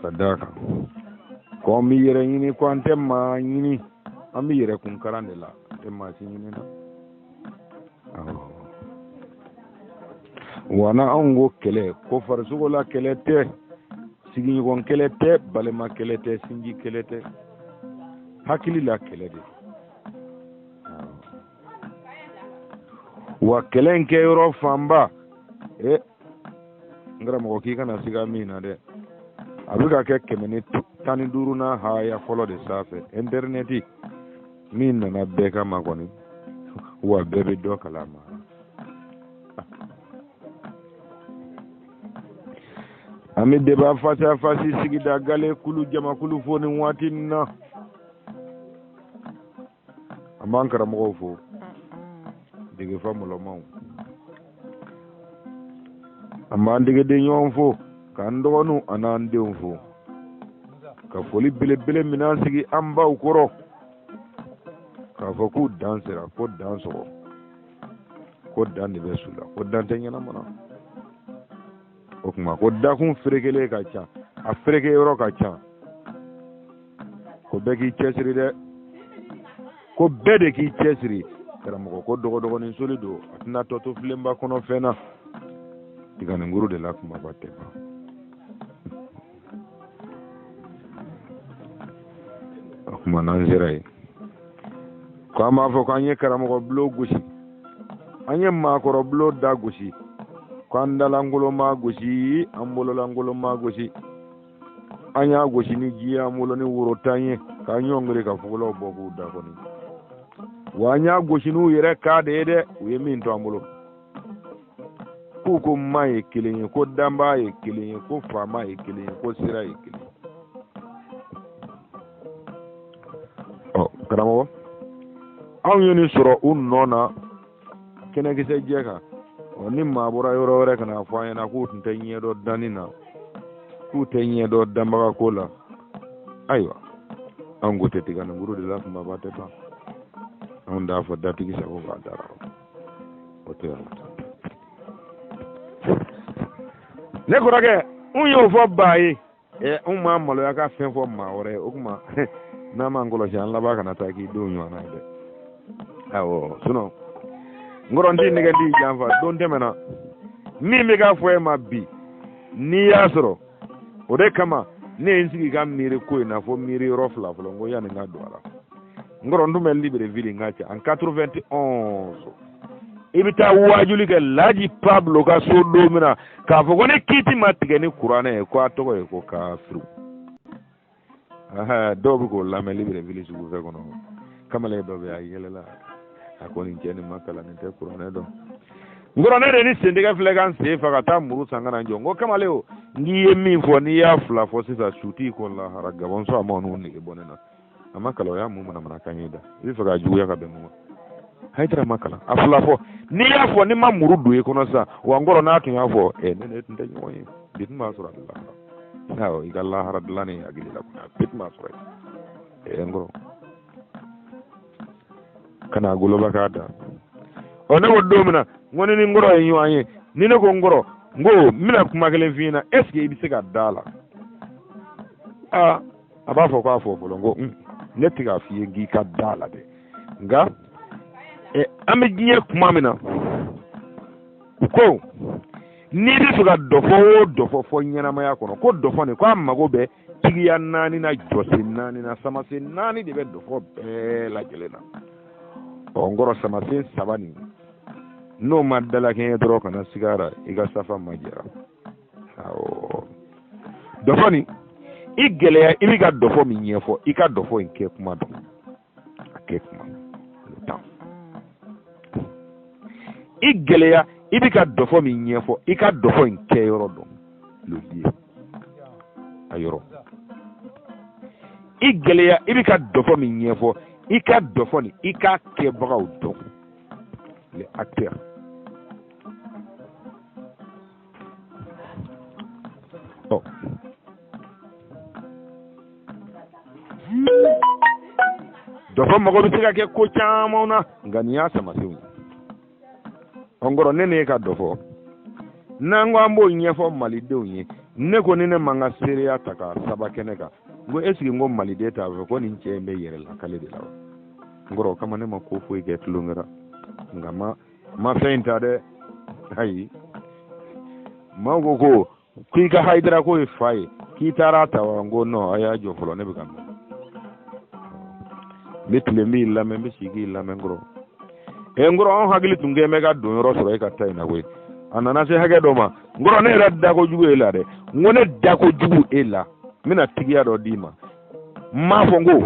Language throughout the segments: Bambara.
ka d'a kan ko an bɛ yɛrɛ ɲini ko an tɛ maa ɲini an bɛ yɛrɛ kun kalan de la an tɛ maa si ɲini na wa n'anw ko kɛlɛ ko farisogo la kɛlɛ tɛ sigiɲɔgɔn kɛlɛ tɛ balima kɛlɛ tɛ sinji kɛlɛ tɛ hakili la kɛlɛ de wa kɛlɛ in kɛ yɔrɔ fanba e n karamɔgɔ k'i kana siga min na dɛ a bɛ ka kɛ kɛmɛ ni tan ni duuru na haya fɔlɔ de sanfɛ ɛntɛrinɛti min nana bɛɛ kama kɔni wa bɛɛ bɛ dɔ kalama an bɛ deba fasa fasi sigida gale kulu jamakulu fo nin waati nin na an b'an karamɔgɔw fo degefa mɔlɔmaw an b'an degeden ɲɔgɔn fo k'an dɔgɔninw an'an denw fo ka foli belebele minan sigi an baw kɔrɔ k'a fɔ k'u dansira ko dansɔgɔ ko dan de bɛ su la ko dan tɛ ɲɛnama na o kuma ko dakun ferekelen ka ca a fereke yɔrɔ ka ca ko bɛɛ k'i cɛsiri dɛ ko bɛɛ de k'i cɛsiri karamɔgɔ ko dɔgɔdɔgɔnin soli don a tɛna tɔ to filenba kɔnɔ fɛn na tiganinkuru de la kumaba tɛ ban o kuma n'an sera yen ko an b'a fɔ ko an ye karamɔgɔ bulon gosi an ye maakɔrɔ bulonda gosi ko an dalankolon ma gosi an bololankolon ma gosi an y'a gosi ni ji ye an bolo ni woro tan ye k'an ɲɔngiri ka fugulaw bɔ k'u da kɔni wa an y'a gosi n'u yɛrɛ ka de ye dɛ u ye min to an bolo k'u ko ma ye kelen ye ko danbaga ye kelen ye ko faama ye kelen ye ko sira ye kelen ye ɔ karamɔgɔ anw ye nin sɔrɔ u nɔ na kɛnɛkisɛ jɛ kan ɔ ni maa bɔra yɔrɔ wɛrɛ ka n'a fɔ an ɲɛna k'u tun tɛ ɲɛ dɔn danni na k'u tɛ ɲɛ dɔn danbaga ko la ayiwa anw ko tɛ tiganinkuru de la kumaba tɛ ban anw t'a fɔ datigi sago b'a da ra o tɛ yan ne kɔrɔkɛ n y'o fɔ ba ye ɛ n ma maloya ka fɛn fɔ maa wɛrɛ ye o kuma n'an m'an kɔlɔsi an laban kana taa k'i denw ɲɔgɔnna ye dɛ awɔ sinɔn n kɔrɔ n t'i nɛgɛn n t'i janfa don tɛmɛna min bɛ k'a fɔ e ma bi n'i y'a sɔrɔ o de kama ne ye n sigi ka miiri ko in na fo miiri yɔrɔ fila fɔlɔ n ko yanni n ka don a la nkɔrɔ n tun bɛ libreville ngacha en 91 i bɛ taa waajuli kɛ laji pablo ka so don min na k'a fɔ ko ni kiti ma tigɛ ni kuranɛ ye ko a tɔgɔ ye ko kafiru dɔw bɛ k'o lamɛn libreville sugufiyɛ kɔnɔ kamalen dɔ bɛ a yɛlɛla a ko nin cɛ nin ma kalan nin tɛ kuranɛ dɔn nkɔrɔ ne de ni sentigɛ filɛ ka n sen fɛ ka taa muru san ka na n jɔ n ko kamalen o n'i ye min fɔ n'i y'a fila fɔ sisan su t'i kɔ lahara gabɔn sɔrɔ a ma n'u nege bɔ ne na a ma kalan o y'a mun manamanakan ye da i bɛ fɛ k'a juguya ka bɛn mun ma hayidara ma kalan a fila fɔ n'i y'a fɔ ni n ma muru don i kɔnɔ sisan wa n kɔrɔ n'a tun y'a fɔ e ni ne tun tɛ ɲɔgɔn ye bi tun b'a sɔrɔ a bɛ lahara awɔ i ka lahara dilan ni hakili la kunna bi tun b'a sɔrɔ yen ɛ n kɔrɔ ka n'a goloba k'a da ɔ ne ko don min na n ko ni n ni n kɔrɔ ye ɲɔgɔn ye ni ne ko n kɔrɔ n ko n bɛna kuma kelen f'i ɲɛna est-ce que i bɛ se ka da a la aa a b'a fɔ k'a fɔ fɔlɔ n ko un ne tɛ k'a f'i ye k'i ka da la dɛ nka ɛ an bɛ diɲɛ kuma min na u ko n'i b'a fɛ ka dɔfɔ o dɔfɔ fɔ ɲɛnamaya kɔnɔ ko dɔfɔ nin ko a mago bɛ tigiya naani na jɔsen naani na samasen naani de bɛ dɔfɔ bɛɛ lajɛlen na ɔ n kɔrɔ samasen saba nin n'o ma dalakɛɲɛ dɔrɔn kana siga a ra i ka safa ma jɛra dɔfɔ nin i gɛlɛya i bɛ ka dɔfɔ min ɲɛfɔ i ka dɔfɔ in kɛ kuma dɔn a kɛ kuma le temps i gɛlɛya i bɛ ka dɔfɔ min ɲɛfɔ i ka dɔfɔ in kɛyɔrɔ dɔn le lieu a yɔrɔ i gɛlɛya i bɛ ka dɔfɔ min ɲɛfɔ i ka dɔfɔ nin i k'a kɛbagaw dɔn les acteurs dɔfɔ mago bɛ se ka kɛ ko caman na nka nin y'a samasenw ye ɔ nkɔrɔ ne n'e ka dɔfɔ n'an ko an b'o ɲɛfɔ malidenw ye ne ko ni ne ma n ka seereya ta ka saba kɛnɛ kan n ko est-ce que n ko maliden t'a fɔ ko nin cɛ in bɛ yɛrɛ lakale de la wa nkɔrɔ o kama ne ma ko foyi kɛ tulonkɛ la nka ma ma fɛn in ta dɛ ayi maaw ko ko k'i ka hayidara k'o ye fa ye k'i taara ta wa n ko nɔn a y'a jɔ fɔlɔ ne bɛ k'a mɛn n bɛ tile n b'i lamɛn n bɛ sigi k'i lamɛn kɔrɔ ɛ n kɔrɔ anw hakili tun kɛn bɛ ka donyɔrɔ sɔrɔ e ka ta in na koyi a nana se hakɛ dɔ ma n kɔrɔ ne yɛrɛ da kojugu e la dɛ n ko ne da kojugu e la n bɛna tigiya dɔ d'i ma n m'a fɔ n ko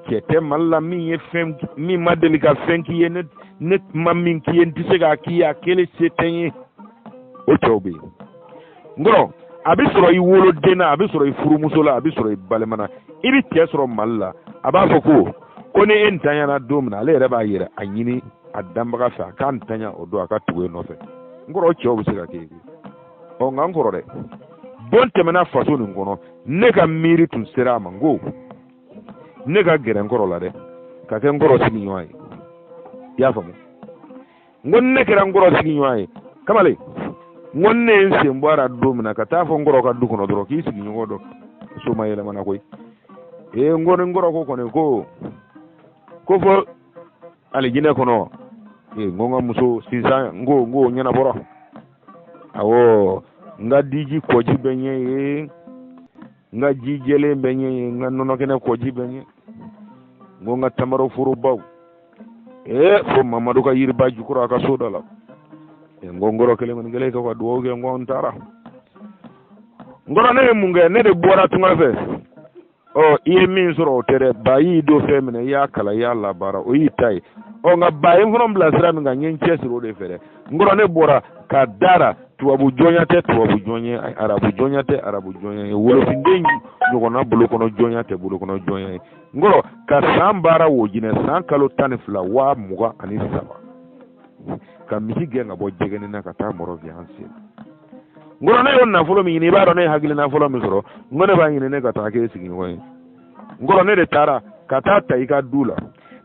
cɛ tɛ mali la min ye fɛn min ma deli ka fɛn k'i ye ne ne ma min k'i ye n tɛ se k'a k'i ye a kɛli se tɛ n ye o cɛw bɛ yen n kɔrɔ a bɛ sɔrɔ i woloden na a bɛ sɔrɔ i furumuso la a bɛ sɔrɔ i balima na i bɛ cɛ sɔrɔ mali la a b'a fɔ ko ko ni e ntanyana don min na ale yɛrɛ b'a yɛrɛ a ɲini a danbaga fɛ a k'a ntanya o don a ka tugu e nɔfɛ n kɔrɔ o cɛw bɛ se ka kɛ yen ɔ nka n kɔrɔ dɛ don tɛmɛna faso nin kɔnɔ ne ka miiri tun sera a ma n ko ne ka gɛrɛ n kɔrɔ la dɛ ka kɛ n kɔrɔ sigiɲɔgɔn ye i y'a faamu n ko ne kɛra n kɔrɔ sigiɲɔgɔn ye kamalen n ko ne ye n sen bɔ a la don min na ka taa fɔ n kɔrɔ ka du kɔnɔ dɔrɔn k'i sigiɲɔgɔn dɔ so ma yɛlɛmana koyi ee n ko ni n kɔrɔ ko kɔni ko ko fɔ alijinɛ kɔnɔ ee n ko n ka muso sisan n ko n ko ɲɛnabɔra awɔ n ka diji kɔji bɛ ɲɛ ye n ka ji jɛlen bɛ ɲɛ ye n ka nɔnɔkɛnɛ kɔji bɛ ɲɛ n ko n ka tamaro forobaw ee fo mamadu ka yiriba jukɔrɔ a ka so dɔ la n ko n kɔrɔ kelen kɔni kelen ka dugawu kɛ n ko n taara n kɔrɔ ne ye mun kɛ ne de bɔra tunga fɛ ɔ i ye min sɔrɔ o tɛ dɛ ba y'i don fɛn min na i y'a kalan i y'a labaara o y'i ta ye ɔ nka ba ye n fana bila sira min kan n ye n cɛsiri o de fɛ dɛ n kɔrɔ ne bɔra ka dara tubabu jɔnya tɛ tubabu jɔnya ye arabu jɔnya tɛ arabu jɔnya ye wolofinden ɲɔgɔnna bolo kɔnɔ jɔnya tɛ bolo kɔnɔ jɔnya ye n kɔrɔ ka san baara wojinɛ san kalo tan ni fila waa mugan ani saba ka misi gɛn ka bɔ jɛgɛnina ka taa mɔrɔviya n sen n kɔrɔ ne y'o nafolo min ɲini i b'a dɔn ne ye hakilina fɔlɔ min sɔrɔ n ko ne b'a ɲini ne ka taa k'e sigiɲɔgɔn ye n kɔrɔ ne de taara ka taa ta i ka du la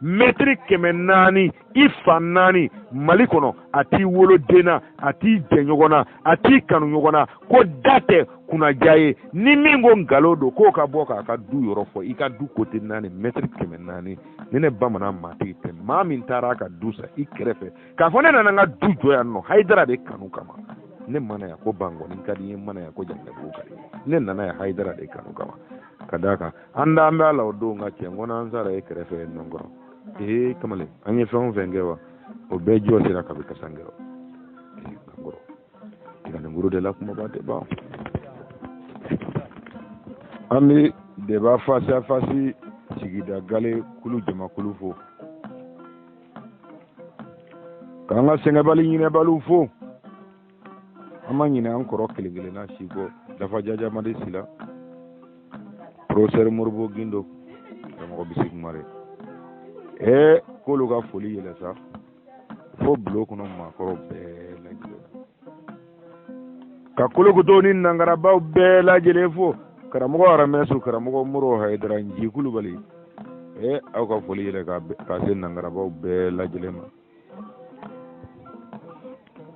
mɛtiri kɛmɛ naani i fan naani mali kɔnɔ a t'i woloden na a t'i jɛɲɔgɔn na a t'i kanuɲɔgɔn na ko da tɛ kunnaja ye ni min ko nkalon don k'o ka bɔ k'a ka du yɔrɔ fɔ i ka du kote naani mɛtiri kɛmɛ naani ni ne bamanan maatigi tɛ maa min taara a ka du san i kɛrɛfɛ k'a fɔ ne nana n ka du jɔ yan nɔ hayidara de kanu kama ne ma na yan ko bankɔni ka di ne ma na yan ko jankabugu ka di ne nana yan hayidara de kanu kama ka d'a kan an da an bɛ a la o don ka cɛ n kɔnɔ an sara e kɛrɛfɛ yen nɔ kɔrɔ ee kamalen an ye fɛn o fɛn kɛ wa o bɛɛ jɔ sera kabi kasankɛrɔ ee kankɔrɔ tiganikuru de la kumaba tɛ ban an bɛ deba fasi fasi sigida gale kulu jamakulu fo k'an ka sɛgɛnbali ɲinɛbaliw fo an ma ɲinɛ an kɔrɔ kelen kelenna si kɔ dafa jajamadi sila professeur modibo gindo karamɔgɔ bisi kumare ee k'olu ka foli yɛlɛn sa fo bulon kɔnɔ maakɔrɔ bɛɛ lajɛlen ka kolokoto ni nangarabaw bɛɛ lajɛ lajɛlen fo karamɔgɔ aramɛso karamɔgɔ mori hayidara ji kulubali ee aw ka foli yɛrɛ ka se nangarabaw bɛɛ lajɛ lajɛlen ma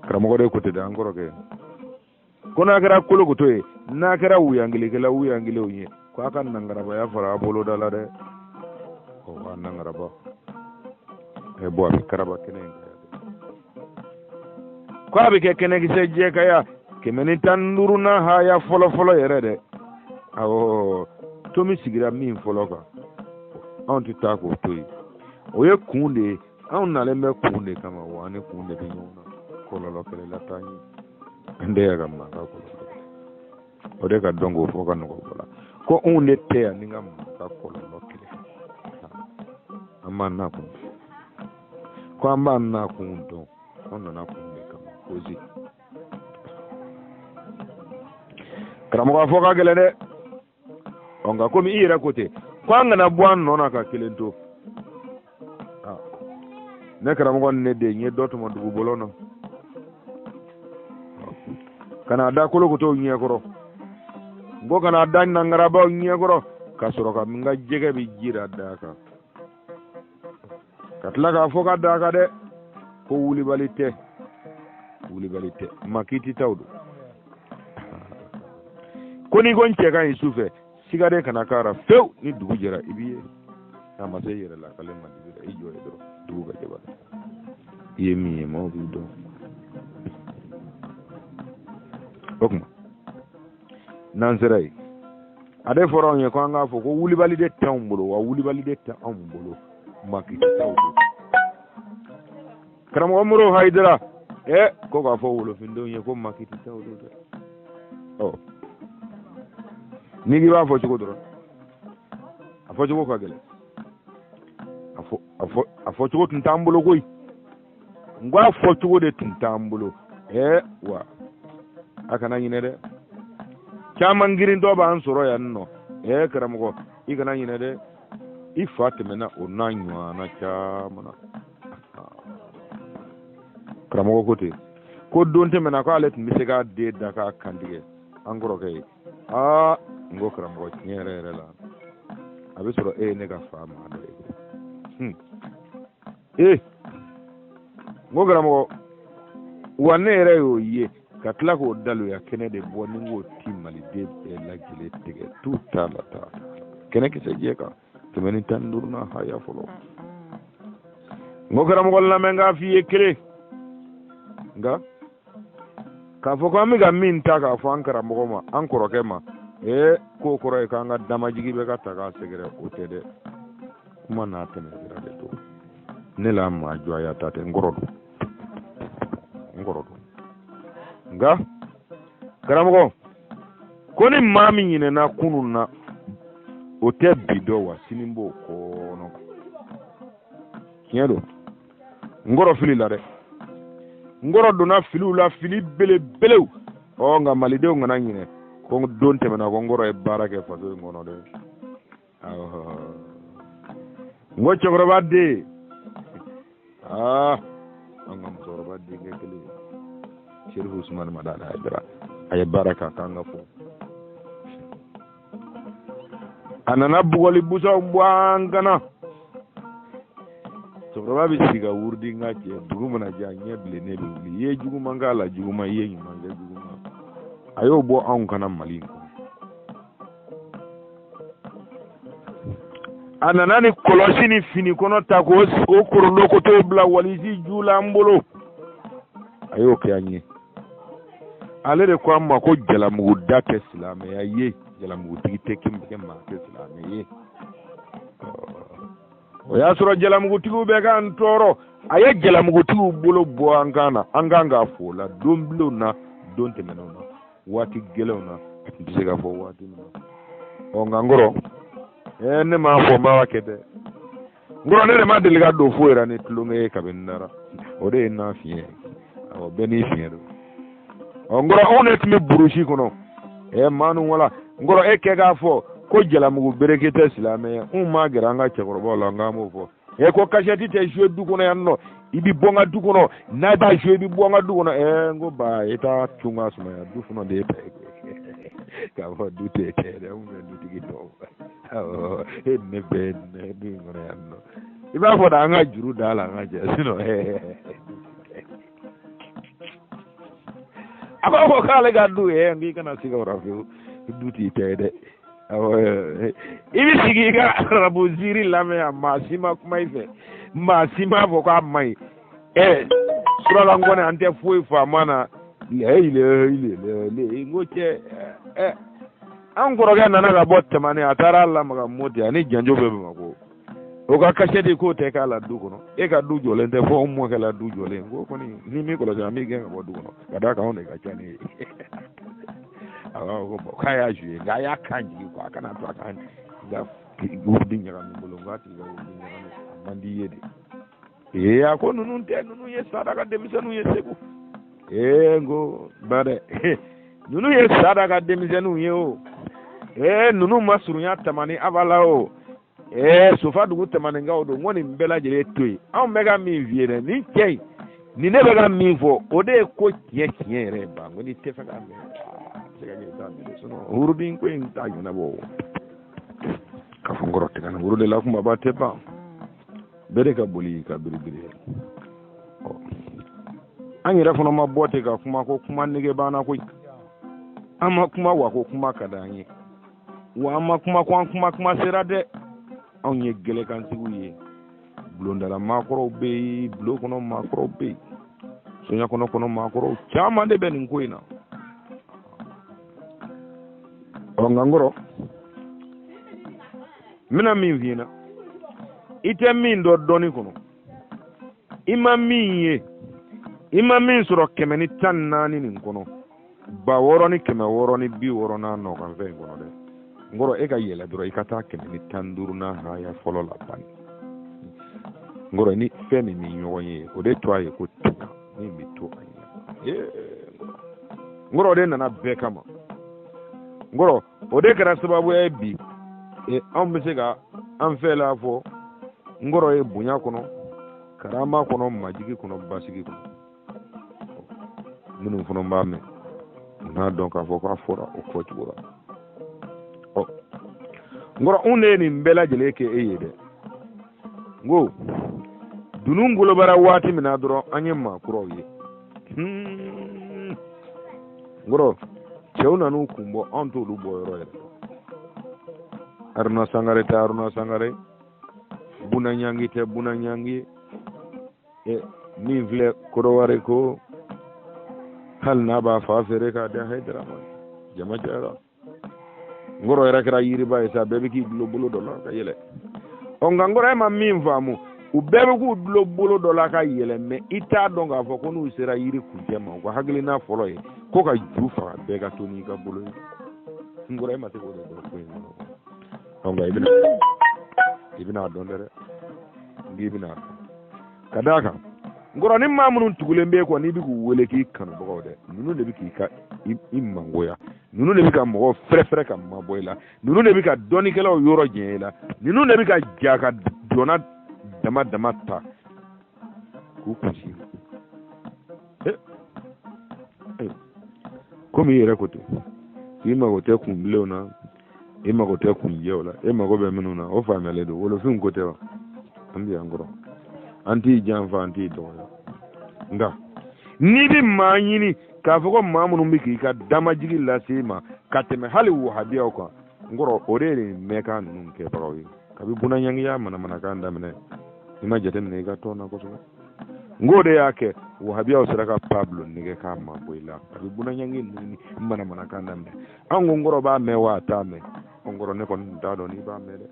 karamɔgɔ de ko ten an kɔrɔkɛ ko n'a kɛra kolokoto ye n'a kɛra wuyangkɛla wuyankelen ye ko a ka nangarabaya fara a boloda la dɛ o ka nangaraba ɛ bɔn a bɛ karaba kɛnɛ in kan ko a bɛ kɛ kɛnɛkisɛ jɛ kan yan kɛmɛ ni tan ni duurunan haya fɔlɔfɔlɔ yɛrɛ dɛ awɔ tomi sigira min fɔlɔ kan anw tɛ taa k'o to yen o ye kun de ye anw nalen bɛ kun de kama wa an ni kun de bɛ ɲɔgɔn na kɔlɔlɔ kɛlɛ la t'an ye an tɛ yɛrɛ ka mankan kɔlɔlɔ o de ka dɔn k'o fɔ ka nɔgɔ bɔ a la ko anw de tɛ yan ni ka mɔgɔ ka kɔlɔlɔ kɛlɛ an b'an nakun ko an b'an nakun dɔn an nana kun de kama kozi karamɔgɔ a fɔ ka gɛlɛn dɛ ɔ nka komi i yɛrɛ ko ten ko an kana bɔ an nɔ na ka kelen to ne karamɔgɔ ni ne de ye dɔ tɔmɔ dugu bɔlɔn na ka n'a da kolokotow ɲɛkɔrɔ n ko ka n'a da nangarabaw ɲɛkɔrɔ ka sɔrɔ ka n ka jɛgɛ bɛ ji ra da a kan ka tila k'a fɔ k'a da a kan dɛ ko wulibali tɛ wulibali tɛ makititaw don ko n'i ko n cɛ ka ɲi su fɛ siga de kana k'a ra fewu ni dugu jɛra i b'i ye n'a ma se i yɛrɛ lakali ma dugu la i jɔ yen dɔrɔn dugu ka jɛ ba i ye min ye maaw b'i dɔn o tuma n'an sera yen a de fɔra anw ye ko an k'a fɔ ko wulibali de tɛ anw bolo wa wulibali de tɛ anw bolo makititaw don karamɔgɔ mori hayidara ɛ ko k'a fɔ wolofindenw ye ko makiti tɛ olu dɛ ɔ n'i k'i b'a fɔ cogo dɔrɔn a fɔ cogo ka gɛlɛn a fɔ a fɔ a fɔ cogo tun t'an bolo koyi n ko a fɔ cogo de tun t'an bolo ɛ wa a kana ɲinɛ dɛ caman girintɔ b'an sɔrɔ yan nɔ ɛ karamɔgɔ i kana ɲinɛ dɛ i fa tɛmɛna o n'a ɲɔgɔnna caman na karamɔgɔ ko ten ko don tɛmɛna ko ale tun bɛ se k'a den da k'a kantigɛ an kɔrɔkɛ ye aa n ko karamɔgɔ tiɲɛ yɛrɛ yɛrɛ la a bɛ sɔrɔ e ye ne ka fa maa dɔ ye hmm. ee n ko karamɔgɔ wa ne yɛrɛ y'o ye ka tila k'o daloya kɛnɛ de bɔ ni n k'o ti maliden bɛɛ lajɛlen tigɛ tun t'a la taa kɛnɛ kisɛ jɛ kan kɛmɛ ni tan ni duuru na a y'a fɔlɔ n ko karamɔgɔ lamɛn k'a f'i ye kelen nka k'a fɔ ko an bɛ ka min ta k'a fɔ an karamɔgɔ ma an kɔrɔkɛ ma ee k'o kɔrɔ ye k'an ka damajigi bɛ ka taa k'a sɛgɛrɛ o tɛ dɛ kuma n'a tɛmɛ sira de don ne la maa juguya ta tɛ n kɔrɔ don n kɔrɔ don nka karamɔgɔ ko ni maa min ɲinɛna kunun na o tɛ bi dɔn wa sini b'o kɔnɔ tiɲɛ don n kɔrɔ filila dɛ n kɔrɔ donna filiw la fili belebelew ɔ nka malidenw kana ɲinɛ ko don tɛmɛna ko n kɔrɔ ye baara kɛ faso in kɔnɔ dɛ n ko cɛkɔrɔba den aa an ka musokɔrɔba denkɛ kelen serifu usumani madani ayidara a ye baara k'a ka kan ka fɔ a nana bugɔli busanw bɔ an kan na cɛkɔrɔba bɛ sigi ka wurudi n ka cɛ dugu mana jɛ a ɲɛ bilennen bɛ wuli i ye juguman k'a la juguman i ye ɲuman kɛ juguman a y'o bɔ anw kan na mali in kɔnɔ a nana ni kɔlɔsi ni fini kɔnɔ ta k'o o korondo ko t'o bila walisi ju la an bolo a y'o kɛ an ye ale de ko an ma ko jalamugu da tɛ silamɛya ye jalamugutigi tɛ kɛ maa tɛ silamɛ ye o y'a sɔrɔ jalamugutigiw bɛ k'an tɔɔrɔ a ye jalamugutigiw bolo bɔ an kan na an kan k'a fo o la don bilenw na don tɛmɛnenw na waati gɛlɛnw na n tɛ se k'a fɔ waati min na ɔ nka n kɔrɔ ɛɛ ne m'a fɔ n b'a kɛ dɛ n kɔrɔ ne de ma deli ka don foyi la ni tulonkɛ ye kabini nara o de ye n n'a fiɲɛ awɔ bɛɛ n'i fiɲɛ don ɔ n kɔrɔ anw de tun bɛ burusi kɔnɔ ɛɛ maa ninnu wala n kɔrɔ e kɛ k'a fɔ ko jalamugu meleke tɛ silamɛ ye n ma gɛrɛ an ka cɛkɔrɔbaw la n k'an b'o fɔ e ko kasɛti tɛ joue du kɔnɔ yan nɔ i bi bɔ n ka du kɔnɔ n'a b'a joue i bi bɔ n ka du kɔnɔ ɛɛ n ko ba i t'a cun ka sumaya du fana de ye ta ye k'a fɔ du tɛ kɛ dɛ n bɛ dutigi tɔw awɔ e ni ne bɛɛ ne du in kɔnɔ yan nɔ i b'a fɔ da an ka juru d'a la an ka jɛ sinɔn ɛɛ a b'a fɔ k'ale ka du ye n k'i kana siga o la fiyewu du t'i ta ye dɛ i bɛ sigi i ka arabu zikiri lamɛn yan maa si ma kuma i fɛ maa si m'a fɔ k'a man ɲi ɛ surakakan kɔni an tɛ foyi faamu a na lɛyi lɛyi lɛyi lɛyi n ko cɛ ɛ an kɔrɔkɛ nana ka bɔ tamani a taara lamaga moti ani janjo bɛ bamakɔ o ka kasɛti k'o tɛ k'a la du kɔnɔ e ka du jɔlen tɛ fo anw mɔkɛ la du jɔlen ko kɔni ni min kɔlɔsi an b'i gɛn ka bɔ du kɔnɔ ka d'a kan anw de ka ca n'i ye a b'a fɔ ko bɔn k'a y'a zuye nka a y'a kan jigin ko a kana to a kan nka wurudi ɲagami bolo nka a tigi ka wurudi ɲagami a man di i ye dɛ ee a ko ninnu tɛ ninnu ye sada ka denmisɛnninw ye segu ee n ko ba dɛ ninnu ye sada ka denmisɛnninw ye o ee ninnu ma surunya tamani abada o ee sofa dugu tamaninkaw don n ko nin bɛɛ lajɛlen to yen anw bɛ ka min f'i ye dɛ nin cɛ in nin ne bɛ ka min fɔ o de ye ko tiɲɛ tiɲɛ yɛrɛ ye ba n ko n'i t'a fɛ k'a mɛn se ka kɛ i t'a mɛn sinon wurudi ko in t'a ɲɛnabɔ o ka fɔ n kɔrɔ tɛgɛ na wurudi la kumaba tɛ ban bɛɛ de ka boli ka biribiri an yɛrɛ fana ma bɔ ten ka kuma ko kuma nege b'an na koyi an ma kuma wa ko kuma ka d'an ye wa an ma kuma ko an kuma kuma sera dɛ anw ye gɛlɛkantigiw ye bulonda la maakɔrɔw bɛ yen bulon kɔnɔ maakɔrɔw bɛ yen soɲa kɔnɔ kɔnɔ maakɔrɔw caman de bɛ nin ko in na ɔ nka n kɔrɔ n bɛna min f'i ɲɛna i tɛ min dɔn dɔnni kɔnɔ i ma min ye i ma min sɔrɔ kɛmɛ ni tan ni naani nin kɔnɔ ba wɔɔrɔ ni kɛmɛ wɔɔrɔ ni bi wɔɔrɔ n'a nɔkan fɛn in kɔnɔ dɛ n kɔrɔ e ka yɛlɛ dɔrɔn i ka taa kɛmɛ ni tan ni duuru n'a haya fɔlɔ la bani n kɔrɔ ni fɛn min ni ɲɔgɔn ye o de to a ye ko tɛna min bɛ to a ɲɛ n kɔrɔ o de nana bɛɛ kama n kɔrɔ o de kɛra sababu ye bi e, anw bɛ se ka an fɛla fɔ n kɔrɔ ye bonya kɔnɔ karama kɔnɔ majigi kɔnɔ basigi kɔnɔ minnu fana b'a mɛn u n'a dɔn k'a fɔ k'a fɔra o fɔ cogo la ɔ n kɔrɔ anw de ye nin bɛɛ lajɛlen kɛ e ye dɛ n ko dunun golo bɔra waati min na dɔrɔn an ye maakɔrɔw ye hmm. n kɔrɔ cɛw nan'u kun bɔ anw t'olu bɔ yɔrɔ yɛrɛ haruna sangare tɛ haruna sangare buna ɲangi tɛ buna ɲangi eh, min filɛ kɔdiwari ko hali n'a b'a fa feere k'a di hayidara ma jama cayara n kɔrɔ yɛrɛ kɛra yiriba ye sa bɛɛ bɛ k'i dulo bolo dɔ la ka yɛlɛ ɔ nka n kɔrɔ e ma min faamu u bɛɛ bɛ k'u dulo bolo dɔ la ka yɛlɛ mɛ i t'a dɔn k'a fɔ ko n'u sera yiri kuncɛ ma u ka hakilina fɔlɔ ye ko k'a ju faga bɛɛ ka to n'i ka bolo ye n kɔrɔ e ma se k'o de dɔn ko in kɔnɔ ɔ nka i bɛna i bɛna a dɔn dɛrɛ n k'i bɛna a dɔn ka d'a kan n kɔrɔ nin maa minnu tugulen b'i kɔ n'i bɛ k'u wele k'i kanubagaw dɛ ninnu de bɛ ka i mangoya ninnu de bɛ ka mɔgɔw fɛrɛfɛrɛ ka mabɔ i la ninnu de bɛ ka dɔnnikɛlaw yɔrɔ janya i la ninnu de bɛ ka ja ka dɔnna dama dama ta k'u kunsi komi i yɛrɛ ko ten k'i mago tɛ kunbilenw na e mago tɛ kunjɛw la e mago bɛ minnu na o faamuyalen don wolofinw ko tɛ wa an bɛ yan n kɔrɔ an t'i janfa an t'i dɔgɔya nka n'i bɛ maa ɲini k'a fɔ ko maa minnu bɛ k'i ka damajigi lase i ma ka tɛmɛ hali wahabiyaw kan n kɔrɔ o de ye nin mankan ninnu kɛbagaw ye kabi bunanyangi y'a manamanakan daminɛ i ma jateminɛ i ka tɔn na kosɛbɛ n k'o de y'a kɛ wahabiyaw sera ka pablo nɛgɛn k'a mabɔ i la a bɛ bunanyangi ninnu manamanakan daminɛ an ko n kɔrɔ b'a mɛn wa a t'a mɛn n kɔrɔ ne kɔni tun t'a dɔn n'i b'a mɛn dɛ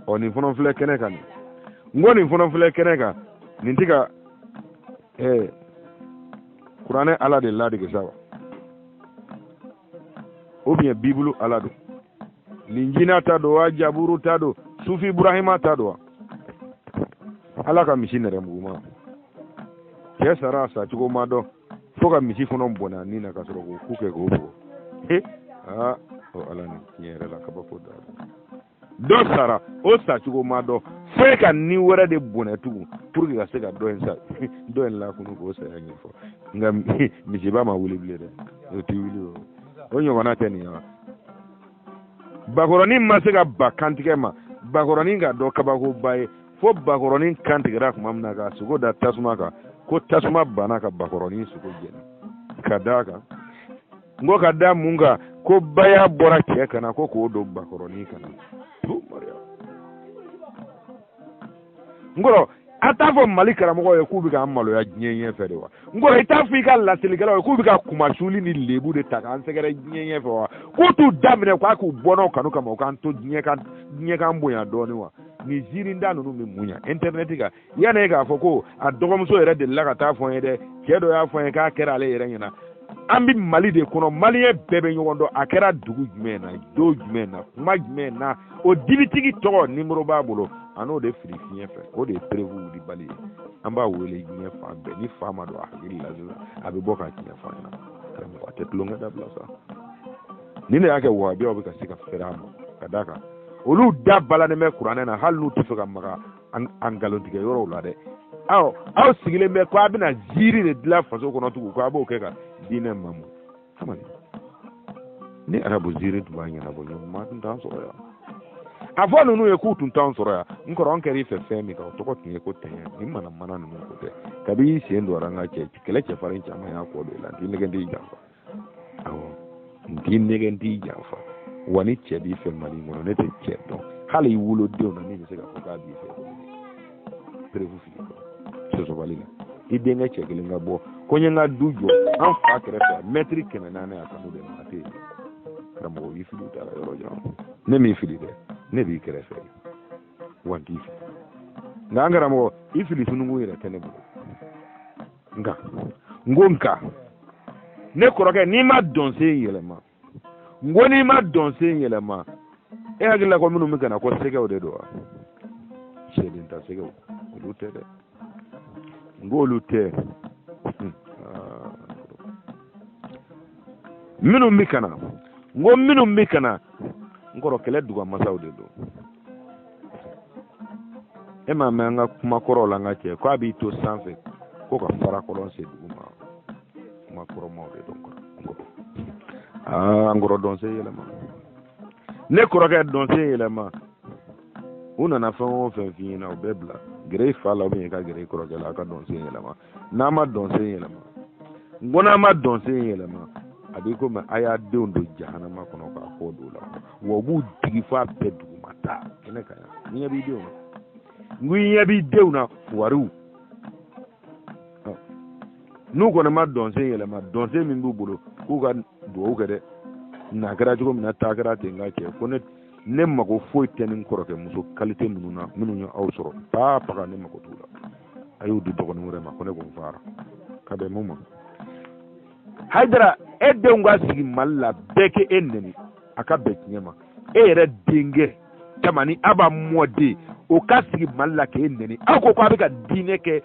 ɔ nin fana filɛ kɛnɛ kan nin n ko nin fana filɛ kɛnɛ kan nin t'i ka ɛɛ kuranɛ ala de ladege sa wa o biɲɛ bibulu ala don linjila ta don wa jaburu ta don suhufi ibrahima ta don wa ala ka misi nɛrɛmuguma cɛ sara a sacogo ma dɔn fo ka misi fana bɔnɛ a ni na ka sɔrɔ k'o ku kɛ k'o bugɔ aa o ala nin tiɲɛ yɛrɛ la kabako dan dɔ sara o sacogo ma dɔn fo ka ni wɛrɛ de bɔnɛ tugun pour que ka se ka dɔ in sa dɔ in lakunu k'o saya ɲɛfɔ nka misiba ma wuli bilen dɛ o ti wuli o o ɲɔgɔnna tɛ nin ye wa bakɔrɔnin ma se ka ba kantigɛ ma bakɔrɔnin ka dɔ kabakoba ye fo bakɔrɔnin kantigɛra tuma min na k'a sogo da tasuma kan ko tasuma banna ka bakɔrɔnin sogo jeni ka d'a kan n ko ka da mun kan ko baya bɔra cɛ kan na ko k'o don bakɔrɔnin kan na n kɔrɔ a t'a fɔ mali karamɔgɔw ye k'u bɛ k'an maloya diɲɛ ɲɛ fɛ de wa n kɔrɔ i t'a fɔ i ka laselikɛlaw ye k'u bɛ ka kunmasuli ni lebu de ta k'an sɛgɛrɛ diɲɛ ɲɛ fɛ wa k'u t'u da minɛ k'a k'u bɔnnaw kanu kama u k'an to diɲɛ k'an diɲɛ k'an bonya dɔɔni wa nin ziirinda ninnu bɛ mun ɲa intɛrinɛti kan yanni e k'a fɔ ko a dɔgɔmuso yɛrɛ delila ka taa fɔ n ye dɛ cɛ dɔ y'a fɔ n ye k'a kɛra ale yɛrɛ ɲɛna an bɛ mali de kɔnɔ maliyɛn bɛɛ bɛ ɲɔgɔn dɔn a kɛra dugu jumɛn na don jumɛn na kuma jumɛn na o dibitigi tɔgɔ nimoro b'a bolo a n'o de fili fiɲɛ fɛ o de ye preuve wulibali ye an b'a wele diɲɛ fan bɛɛ ni fa ma don a hakili la sisan a bɛ bɔ ka tiɲɛ fɔ an ɲɛna karamɔgɔ a tɛ tulonkɛ dabila sa ni ne y'a kɛ wahabiyaw bɛ ka se ka fɛrɛ a ma ka d'a kan olu da balannen bɛ kuranɛ na hali n'u t'a fɛ ka maga an nkalontigɛ yɔrɔw la dɛ aw aw sigilen bɛ ko a bɛna ziiri de dilan faso kɔnɔ tugun ko a b'o kɛ ka diinɛ mamu aman ni arabu ziiri tun b'a ɲɛnabɔ ɲɔgɔn ma tun t'an sɔrɔ yan a fɔ ninnu ye k'u tun t'an sɔrɔ yan n kɔrɔ an kɛra i fɛ fɛn min kan o tɔgɔ tun ye ko tiɲɛ ni manamana ninnu ko tɛ kabi i sen don an ka cɛ kɛlɛ cɛfarin caman y'a kɔ don i la n t'i nɛgɛn t'i janfa awɔ n t'i nɛgɛn t'i janfa wa ni cɛ b'i fɛ mali kɔnɔ ne tɛ cɛ dɔn hali i wolodenw na min bɛ se k'a fɔ k'a b'i fɛ perewu fili sɔsɔbali la i denkɛ cɛ kelen ka bɔ ko n ye n ka du jɔ an fa kɛrɛfɛ mɛtiri kɛmɛ naani a kanu bɛ ma a tɛ yen karamɔgɔ y'i fili taara yɔrɔ jan ne m'i fili dɛ ne b'i kɛrɛfɛ wa n t'i fili nka an karamɔgɔ i fili sununkun yɛrɛ tɛ ne bolo nka n ko nka ne kɔrɔkɛ n'i ma dɔnsen yɛlɛma n ko n'i ma dɔnsen yɛlɛma e hakili la ko minnu bɛ ka na ko sɛgɛw de don wa sɛden ta sɛgɛw olu tɛ dɛ n ko olu tɛ minnu bɛ ka na n ko minnu bɛ ka na n kɔrɔ kɛlɛ dugamasaw de don e m'a mɛn an ka kuma kɔrɔw la an ka cɛ ko a b'i to sanfɛ ko ka fara kɔlɔn sen dugu ma kuma kɔrɔmaw de don an kɔrɔ dɔnsen yɛlɛma ne kɔrɔkɛ dɔnsen yɛlɛma u nana fɛn o fɛn f'i ɲɛna o bɛɛ bila gɛrɛ i fa la u bɛ ka gɛrɛ i kɔrɔkɛ la a ka dɔnsen yɛlɛma n'a ma dɔnsen yɛlɛma n ko n'a ma dɔnsen yɛlɛma a b'i komi a y'a denw don jahanama kɔnɔ k'a kɔ don u la wa u b'u digi f'a bɛɛ duguma taa kɛnɛ ka yan n ɲɛ b'i denw na n ko i ɲɛ b'i denw na wariw n'u kɔni ma dɔnsen yɛlɛma dɔnsen min b'u bolo k'u ka dugawu kɛ dɛ na kɛra cogo min na taa kɛra ten ka cɛ ko ne ne mago foyi tɛ ni kɔrɔkɛ muso kalite minnu na minnu ye aw sɔrɔ taa paga ne mago t'u la a y'o di dɔgɔnin wɛrɛ ma ko ne ko n fara ka bɛn mun ma hayidara e denw ka sigi mali la bɛɛ k'e nɛni a ka bɛn tiɲɛ ma e yɛrɛ denkɛ tamani aba mɔden o ka sigi mali la k'e nɛni aw ko ko a bɛ ka diinɛ kɛ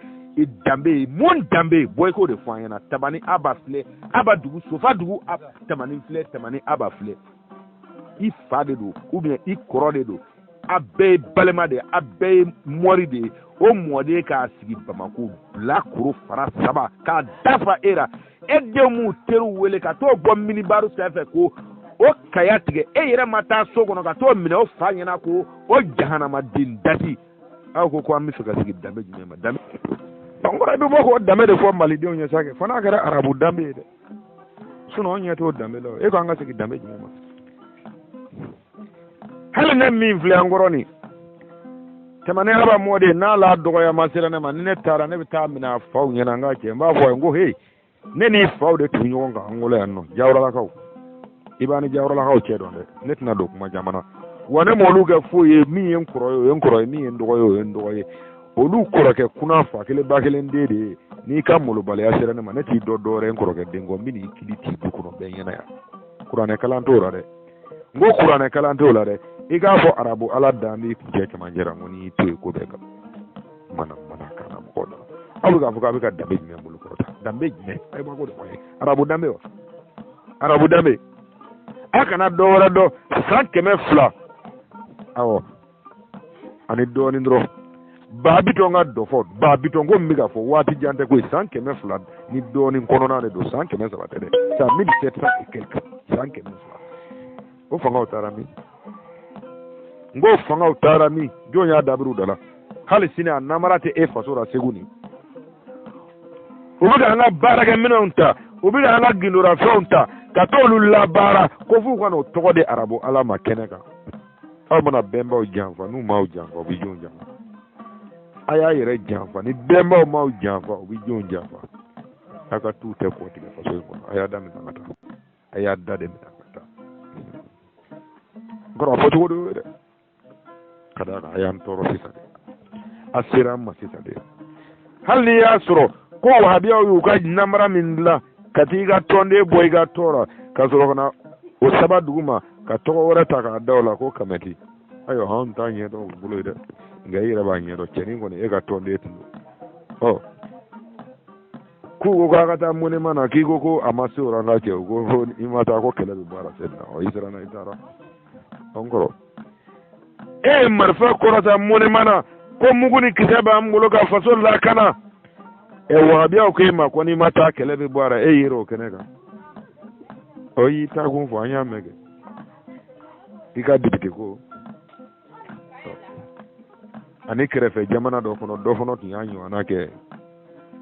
danbe ye mun danbe ye bɔ i k'o de fɔ an ɲɛna tamani aba filɛ aba dugu sofa dugu tamani filɛ tamani aba filɛ i fa de don ou bien i kɔrɔ de don a bɛɛ ye balima de ye a bɛɛ ye mɔri de ye o mɔden ka sigi bamako bilakoro fara saba k'a dafa e ra e denw m'u teriw wele ka t'o bɔ minibaru sanfɛ k'o kaya tigɛ e yɛrɛ ma taa so kɔnɔ ka t'o minɛ o fa ɲɛna ko o jahanamaden dati aw ko ko an bɛ fɛ ka sigi danbe jumɛn ma danbe kɔrɔ i bɛ bɔ k'o danbe de fɔ malidenw ye sa kɛ fo n'a kɛra arabu danbe ye dɛ sinɔn anw ɲɛ t'o danbe la e ko an ka segin danbe jumɛn ma hali ne min filɛ an kɔrɔ nin tɛmɛnen ala mɔden n'a la dɔgɔya ma sera ne ma ni ne taara ne bɛ t'a minɛ a faw ɲɛna an ka cɛ n b'a fɔ a ye n ko he ne n'i faw de tun ɲɔgɔn kan an wolo yan nɔ jawuralakaw i b'a ni jawuralakaw cɛ dɔn dɛ ne tɛna don kuma jamana wa ne m'olu kɛ foyi ye min ye n kɔrɔ ye o ye n kɔrɔ ye min ye n dɔgɔ ye o ye n dɔgɔ ye olu kɔrɔkɛ kuna fa kelen ba kelen den de ye n'i ka malobaliya sera ne ma ne t'i dɔn dɔwɛrɛ n kɔrɔkɛ den kɔ n bɛ n'i kili t'i du kɔnɔ bɛɛ ɲɛna yan kuranɛ kalan t'o la dɛ n ko kuranɛ kalan t'o la dɛ i k'a fɔ arabu ala dan b'i kun cɛ cɛmancɛ la n ko n'i y'i to yen ko bɛɛ ka manamanakan na mɔgɔ dɔ aw bɛ k'a fɔ k'a bɛ ka danbe jumɛn bolo kɔrɔta danbe jumɛn ayi ma ko de fɔ ye arabu danbe wa arabu danbe a kana dɔ wɛrɛ dɔn san kɛmɛ fila awɔ ani dɔɔnin dɔrɔn baa bitɔn ka dɔfɔ baa bitɔn ko min bɛ ka fɔ waati jan tɛ ko ye san kɛmɛ fila ni dɔɔnin kɔnɔna de don san kɛmɛ saba tɛ dɛ san mille sept cent et quelque san kɛmɛ fila o fangaw taara min n ko fangaw taara min jɔn y'a dabiri u da la hali sini a namara tɛ e faso la segu nin u bɛ ka an ka baarakɛminɛnw ta u bɛ ka an ka gundorafɛnw ta ka t'olu labaara ko f'u ka n'o tɔgɔ di arabu ala ma kɛnɛ kan aw mana bɛnbaw janfa n'u m'aw janfa u bɛ jɔnw janfa a y'a yɛrɛ janfa ni bɛnbaw m'aw janfa u bɛ jɔnw janfa aw ka t'u tɔgɔ tiɲɛ faso in kɔnɔ a y'a da minɛ ka taa a y'a da de minɛ ka taa n kɔrɔ a fɔ cogo de y'o ye dɛ ka d'a kan a y'an tɔɔrɔ sisan de a sera an ma sisan de hali n'i y'a sɔrɔ ko wahabiyaw y'u ka namara min dilan ka t'i ka tɔnden bɔ i ka tɔn na ka sɔrɔ ka na o saba dugu ma ka tɔgɔ wɛrɛ ta k'a da o la ko kamɛti ayiwa anw t'a ɲɛ dɔn u bolo ye dɛ nka i yɛrɛ b'a ɲɛ dɔn cɛnin kɔni e ka tɔnden tun don ɔ k'u ko k'a ka taa monument na k'i ko ko a ma se o la n ka cɛ u ko i ma taa ko kɛlɛ bɛ bɔ a la sɛbɛn na ɔ i siranna i taara an kɔrɔ e ye marifa kɔrɔta monument na ko mugu ni kisɛ b'an bolo ka faso lakana ɛ e, wahabiyaw ko e ma ko n'i ma taa kɛlɛ bɛ bɔ a la e yɛrɛ o kɛnɛ kan ɔ y'i taa kun fɔ an y'a mɛn kɛ i ka bitigi ko ani kɛrɛfɛ jamana dɔ kɔnɔ dɔ fana tun y'a ɲɔgɔnna kɛ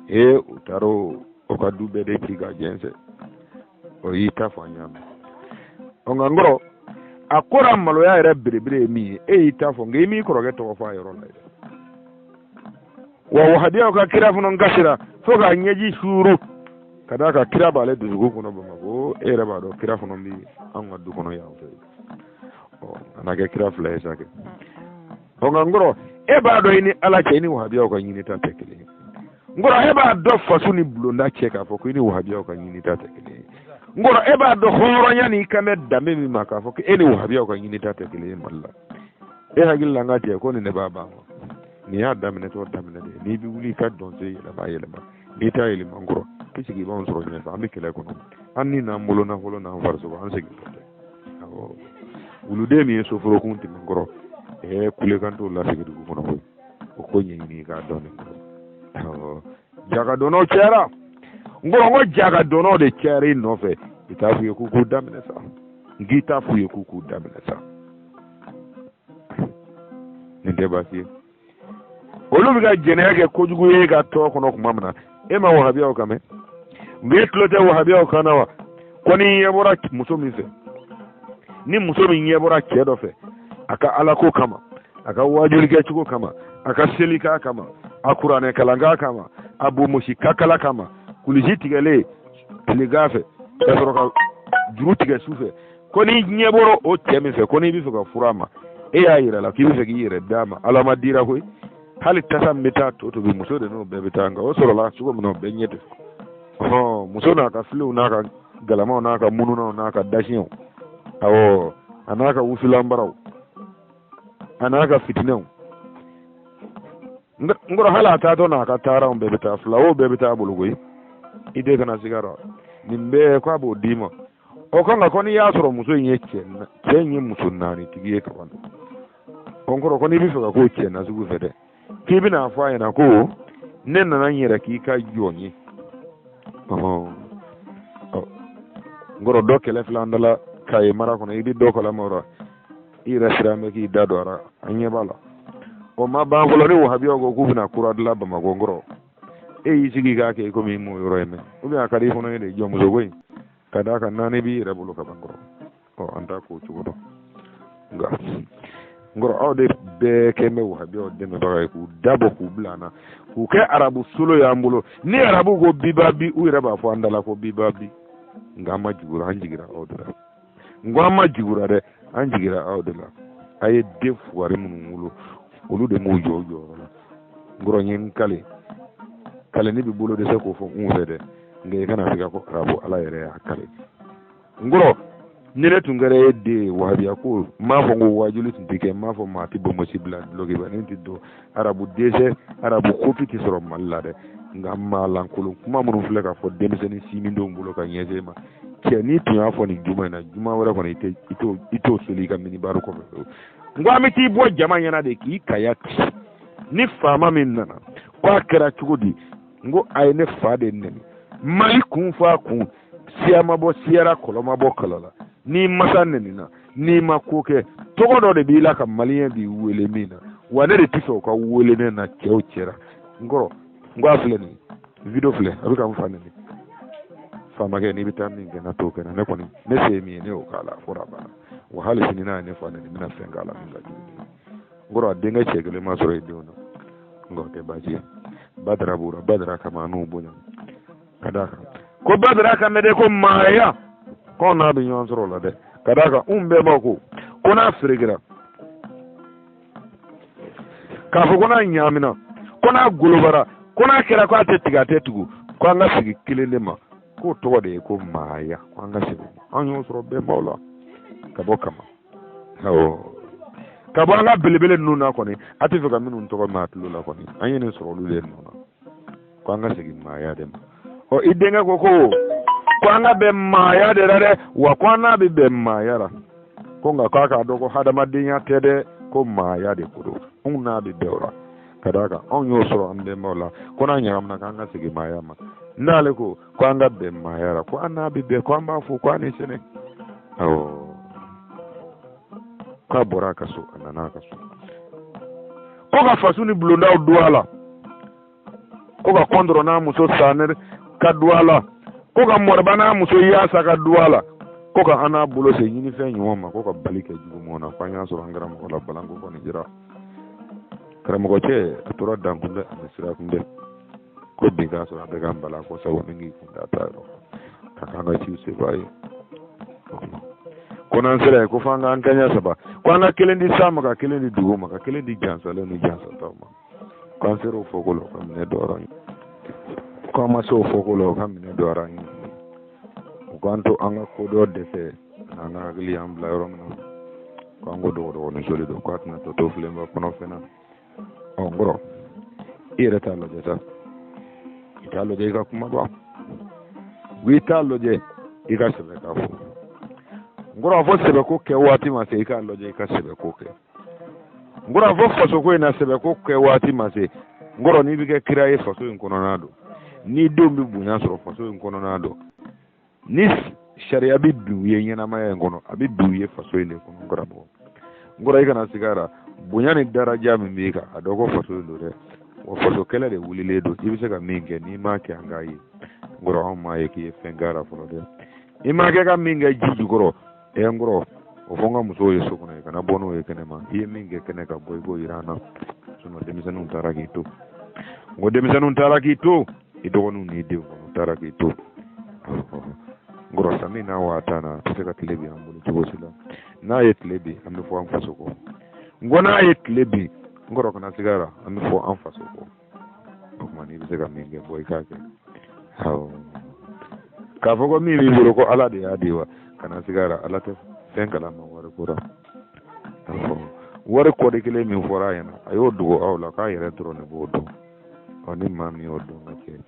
ee u taara o ka du bɛɛ de ci ka jɛnsɛn o y'i ta fɔ an y'a mɛn ɔ nka n kɔrɔ a ko ra maloya yɛrɛ belebele ye min ye e y'i ta fɔ nka i m'i kɔrɔkɛ tɔgɔ fɔ a yɔrɔ la yɛrɛ wa wahabiyaw ka kira fana kasira fo k'a ɲɛji suuru ka d'a kan kira b'ale dusukun kɔnɔ bamakɔ e yɛrɛ b'a dɔn kira fana bɛ an ka du kɔnɔ yan fɛ ɔ a na kɛ kira fila ye sa kɛ o nka n kɔrɔ e b'a dɔn i ni ala cɛ i ni wahabiyaw ka ɲinita tɛ kelen ye n kɔrɔ e b'a dɔn faso ni bulonda cɛ k'a fɔ ko i ni wahabiyaw ka ɲinita tɛ kelen ye n kɔrɔ e b'a dɔn hɔrɔnya n'i kan bɛ danbe min ma k'a fɔ ko e ni wahabiyaw ka ɲinita tɛ kelen ye mali la e hakili la n ka jɛ ko nin ne b'a ban kɔ nin y'a daminɛtɔ daminɛ de n'i bɛ wuli i ka dɔnsen yɛlɛma yɛlɛma n'i t'a yɛlɛma n kɔrɔ i sigi i b'anw sɔrɔ ɲɛfɛ an bɛ kɛlɛ kɔnɔ an ni n'an bolo nafolo n'an farisogo an segin wuluden min ye soforokun tɛmɛn kɔrɔ ɛɛ kulekan t'o lasigi dugu kɔnɔ koyi o ko ɲɛɲini i k'a dɔn n ko jagadɔnnaw cayara n kɔrɔ ko jagadɔnnaw de cayara i nɔfɛ i t'a f'u ye k'u k'u da minɛ sa n k'i t'a f'u ye k'u k'u da minɛ sa nin tɛ baasi ye olu bɛ ka jɛnɛya kɛ kojugu ye ka tɔn kɔnɔ tuma min na e ma wahabiyaw kan mɛn nka e tulo tɛ wahabiyaw kan na wa ko n'i ɲɛ bɔra muso min fɛ ni muso min ɲɛ bɔra cɛ dɔ fɛ a ka alako kama a ka waajuli kɛcogo kama a ka selikan kama a kuranɛ kalankan kama a bomosi ka kala kama kulisi tigɛlen tilegan fɛ ka sɔrɔ ka juru tigɛ su fɛ ko n'i ɲɛ bɔra o cɛ min fɛ ko n'i bɛ fɛ ka furu a ma e y'a yira a la k'i bɛ fɛ k'i yɛrɛ d'a ma alamadi ra koyi hali tasa min bɛ taa to tobi muso de n'o bɛɛ bɛ taa nka o sɔrɔla cogo min na o bɛɛ ɲɛ tɛ ɔhɔn muso n'a ka filenw n'a ka galamaw n'a ka mununanw n'a ka dasiɲɛw awɔ a n'a ka wusulanbaraw a n'a ka fitinɛw n kɔrɔ hali a taatɔ n'a ka taaranw bɛɛ bɛ taa fila o bɛɛ bɛ taa a bolo koyi i de kana siga dɔn nin bɛɛ k'a b'o d'i ma o kan ka ko n'i y'a sɔrɔ muso in ye cɛ cɛ in ye muso naani tigi ye kaban ɔ n kɔrɔ ko n'i bɛ fɛ ka k'o cɛ nasugu fɛ dɛ k'i bɛn'a fɔ a ɲɛna ko ne nana n yɛrɛ k'i ka jɔn ye n kɔrɔ dɔ kɛlen filɛ an da la kayi mara kɔnɔ i bɛ dɔ kalama o la i yɛrɛ siran bɛ k'i da don a la an ɲɛ b'a la o ma ban fɔlɔ ni wahabiyaw ko k'u bɛna kura dilan bamakɔ kɔrɔ e y'i sigi k'a kɛ ikomi i m'o yɔrɔ ye mɛ ou bien a ka di i fana ye de jɔnmuso ko in ka d'a kan naani b'i yɛrɛ bolo kaban n kɔrɔ ɔ an t'a k'o cogo dɔn nka n kɔrɔ aw de bɛɛ kɛlen bɛ wahabiyaw dɛmɛbaga ye k'u dabɔ k'u bila an na k'u kɛ arabu solo y'an bolo ni arabu ko biba bi u yɛrɛ b'a fɔ an da la ko biba bi nka an ma jigi u ra an jigira aw de la n ko an ma jigi u ra dɛ an jigira aw de la a ye den fugari minnu wolo olu de m'u jɔ u jɔyɔrɔ la n kɔrɔ n ye n kale kale ne bɛ bolo dɛsɛ k'o fɔ n fɛ dɛ nka i kana siga ko arabu ala yɛrɛ y'a kale n kɔrɔ ni ne tun kɛra e de ye wahabiya ko n m'a fɔ n ko waajuli tun tɛ kɛ n m'a fɔ maa tɛ bonbonsi bila dulɔkiba ne tɛ don arabu dɛsɛ arabu kopi tɛ sɔrɔ mali la dɛ nka maalankolon kuma minnu filɛ ka fɔ denmisɛnnin sinmindenw bolo ka ɲɛsin ma cɛ n'i tun y'a fɔ nin juma in na juma wɛrɛ kɔni i t'o seli i ka minibari kɔfɛ n ko an bɛ t'i bɔ jama ɲɛna de k'i kaya ci ni faama min nana ko a kɛra cogo di n ko a ye ne fa de nɛni mali kun fɔ a kun siya ma bɔ siya ra kɔlɔ ma bɔ kɔlɔ la n'i masa nɛnina n'i ma ko kɛ tɔgɔ dɔ de b'i la ka maliyɛn b'i wele min na wa ne de t'a fɛ u k'a wele ne na cɛw cɛ ra n kɔrɔ n ko a filɛ nin video filɛ a bɛ ka n fa nɛni famakɛ n'i bɛ taa min kɛ n ka t'o kɛ n na ne kɔni ne se ye min ye ne y'o k'a la fo a banna wa hali sini n'a ye ne fa nɛni n bɛna fɛn k'a la min ka jugu n kɔrɔ a denkɛ cɛ kelen ma sɔrɔ yen denw na n kɔrɔ tɛ baasi ye badara b'o la badara kama n'o bonya ka d'a kan ko badara kan bɛ dɛ ko maaya k'anw n'a bɛ ɲɔgɔn sɔrɔ o la dɛ ka d'a kan anw bɛɛ b'a ko ko n'a ferekera k'a fɔ ko n'a ɲaamina ko n'a golobara ko n'a kɛra ko a tɛ tigɛ a tɛ tugu ko an ka segin kelen de ma k'o tɔgɔ de ye ko maaya ko an ka segin an y'o sɔrɔ bɛnbaw la ka bɔ kama awɔ ka bɔ an ka belebele ninnu na kɔni a t'a fɛ ka minnu tɔgɔ mɛn a tulo la kɔni an ye nin sɔrɔ olu de nɔ na ko an ka segin maaya de ma ɔ i denkɛ ko ko ko an ka bɛn maaya de la dɛ wa ko an n'a bɛ bɛn maaya la ko nka k'a k'a dɔn ko hadamadenya tɛ dɛ ko maaya de ko don anw n'a bɛ bɛn o la ka d'a kan anw y'o sɔrɔ an bɛnbaw la ko n'a ɲagamina k'an ka segin maaya ma n'ale ko ko an ka bɛn maaya la ko an n'a bɛ bɛn ko an b'a fo ko a ni sɛnɛ awɔ k'a bɔra a ka so a nana a ka so ko ka faso ni bulondaw don a la ko ka kɔntɔrɔn n'a muso sanɛnɛ ka du a la ko ka moriba n'a muso yasa ka du a la ko ka an n'a bolo se ɲinifɛn ɲuman ma ko ka bali kɛ jugu mɔgɔ na f'an y'a sɔrɔ an kɛra mɔgɔ la balanko kɔni jira karamɔgɔ cɛ a tora dankun bɛ ani sirakun bɛ ko bin k'a sɔrɔ a bɛ ka n bala ko sabu ni k'i kun da ta yɔrɔ ka k'an ka ciw sefa ye ko n'an sera yen ko f'an k'an kɛɲɛ saba ko an ka kelen di san ma ka kelen di dugu ma ka kelen di jansalen ni jansataw ma k'an sera o fɔkolo ka minɛ dɔrɔn ye k'an ma se o fɔkolo ka minɛ dɔrɔn ye u k'an to an ka kodɔn dɛsɛ n'an ka hakili y'an bila yɔrɔ min na k'an ko dɔgɔdɔgɔnin soli don k'a tɛna tɔ to filenba kɔnɔfɛn na ɔ n kɔrɔ i yɛrɛ t'a lajɛ sa i t'a lajɛ i ka kuma bɔ i t'a lajɛ i ka sɛbɛ k'a fɔ n kɔrɔ a fɔ sɛbɛko kɛ waati ma se i k'a lajɛ i ka sɛbɛko kɛ n kɔrɔ fɔ faso ko in na sɛbɛ ko kɛ waati ma se n kɔrɔ n'i bɛ kɛ kira ye faso in kɔnɔna don n'i denw bɛ bonya sɔrɔ faso in kɔnɔna don ni sariya bɛ bi u ye ɲɛnamaya in kɔnɔ a bɛ bi u ye faso in de kɔnɔ n kɔrɔ n kɔrɔ i kana sig'a ra bonya ni daraja min b'i kan a dɔn ko faso in don dɛ wa faso kɛlɛ de wulilen don i bɛ se ka min kɛ n'i m'a kɛ an k'a ye n kɔrɔ anw m'a ye k'i ye fɛn k'a la fɔlɔ dɛ i m'a kɛ ka min kɛ ji jukɔrɔ e n kɔrɔ o fɔ n ka musow ye so kɔnɔ i kana bɔ n'o ye kɛnɛ ma i ye min kɛ kɛnɛ kan bɔ i k'o jira an na sinɔn denmisɛnninw taara k'i to n ko denmisɛnninw taara k'i to i dɔgɔninw n'i denw kɔni taara k'i to n kɔrɔ sami n'a waa tan na a tɛ se ka tile bin an bolo cogo si la n'a ye tile bin an bɛ fɔ an faso kɔ n ko n'a ye tile bin n kɔrɔ kana sig'a ra an bɛ fɔ an faso kɔ o tuma n'i bɛ se ka min kɛ bɔ i k'a kɛ awɔ k'a fɔ ko min b'i bolo ko ala de y'a di wa kana sig'a ra ala tɛ fɛn kalama wari ko la awɔ wari kɔdi kelen min fɔra a ɲɛna a y'o dogo aw la k'a yɛrɛ dɔrɔn de b'o dɔn ɔ ni maa min y'o dɔn ka kɛ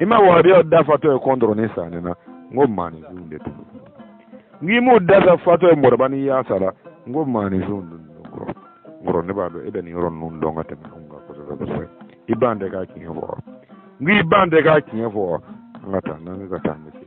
i ma wahabiyaw da fatɔ ye kɔntɔrɔn ni sanɛ na n ko maaninfinw de don n k'i m'u da sa fatɔ ye moriba ni yasa la n ko maaninfinw de don kɔrɔ kɔrɔ ne b'a dɔn e bɛ nin yɔrɔ ninnu dɔn ka tɛmɛ anw kan kosɛbɛ kosɛbɛ i ban de ka tiɲɛ fɔ wa n k'i ban de ka tiɲɛ fɔ wa an ka taa n'an ka taa an bɛ se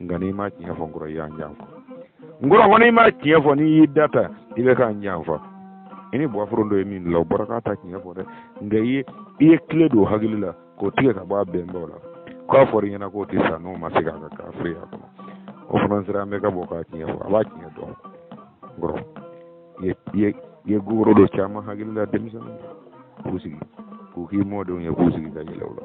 nka n'i ma tiɲɛ fɔ nkɔrɔ i y'an janfa nkɔrɔ ko n'i ma tiɲɛ fɔ n'i y'i da ta i bɛ k'an janfa i ni buwafuron dɔ ye min la o bɔra ka taa tiɲɛ fɔ dɛ nka i ye i ye kile don hakili la k'o tigɛ ka bɔ a bɛnbaw la k'a fɔra i ɲɛna k'o tɛ sa n'o ma se k'a ka kafiriya kɔnɔ o fana sera an bɛ ka bɔ ka tiɲɛ fɔ a bɛ tiɲɛ dɔn nkɔrɔ i ye i ye i ye gogoro don caman hakili la denmisɛnninw k'u sigi k'u k'i mɔdenw ye k'u sigi ka yɛlɛ u la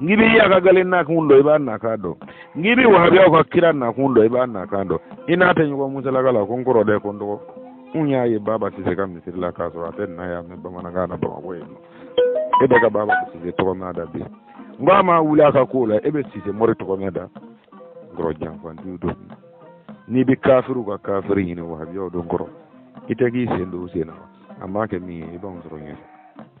n'i bɛ y'a ka gale nakun dɔn i b'a nakan dɔn n'i bɛ wahabiyaw ka kira nakun dɔn i b'a nakan dɔn i n'a tɛ ɲɔgɔn musalaka la ko n kɔrɔ dɛ ko n dɔgɔ n y'a ye baba sise ka misiri la k'a sɔrɔ a tɛ na yɛrɛ mɛn bamanankan na bamakɔ yen nɔ e bɛ ka baba sise tɔgɔ mɛn n da bi n ko a ma wuli a ka ko la e bɛ sise mori tɔgɔ mɛn n da kɔrɔ janfantiw don n'i bɛ kafiriw ka kafiri ɲini wahabiyaw don kɔrɔ i tɛ k'i sen don u sen na an b'a kɛ min ye i b'anw sɔrɔ ɲɛfɛ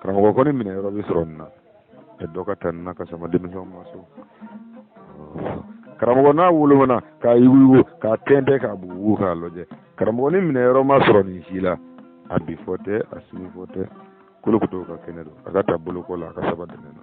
karamɔgɔ ko ni minɛ yɔrɔ bɛ sɔrɔ nin na ɛ dɔ ka ta nin na ka sama denmisɛnw ma so karamɔgɔ n'a wolomana k'a yuguyugu k'a tɛntɛn k'a bugubugu k'a lajɛ karamɔgɔ ni minɛ yɔrɔ ma sɔrɔ nin si la a bi fɔ tɛ a sini fɔ tɛ kolo kutu ka kɛnɛ don a ka ta bolokɔ la a ka saba dɛmɛ na